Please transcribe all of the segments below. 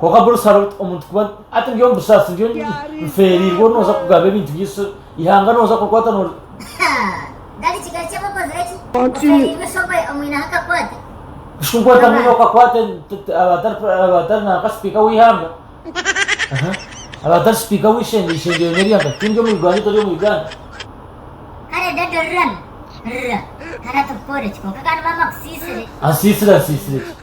Kwonka buri sara omuntu kuba ati ndi omu busaasi ndi nfeereirwe ori nooza kugaba ebintu byaisu eihanga nooza kukwata nori kushikunkwata mwine okakwate abatari nanka sipiika w'eihanga abatari sipiika w'eishengye eishengye yoona erya nka tindi omu Uganda tori omu Uganda ansiisire ansiisire ki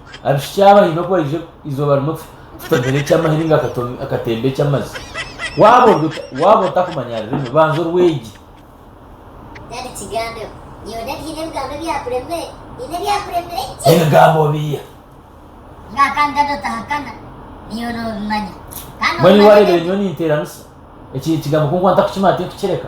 Abishiki aba haine oku baije eizooba rimwe kutomera eky'amahiri ngu akatemba eky'amazi. Waaba ori ota? Waaba otakumanya ari rimwe, banza orwegye. Daddy kigambeho, nyowe Daddy nyine ebigambo ebyakuremire, nyine ebyakuremire gye! Ebigambo biha? Nga kandi Daddy otahakana, nyowe n'obimanya. Kandi Mbwenu iwe wareebire nyowe ninteeranisa? Eki ekigambo ku nkuba ntakukimanya tinkukireka.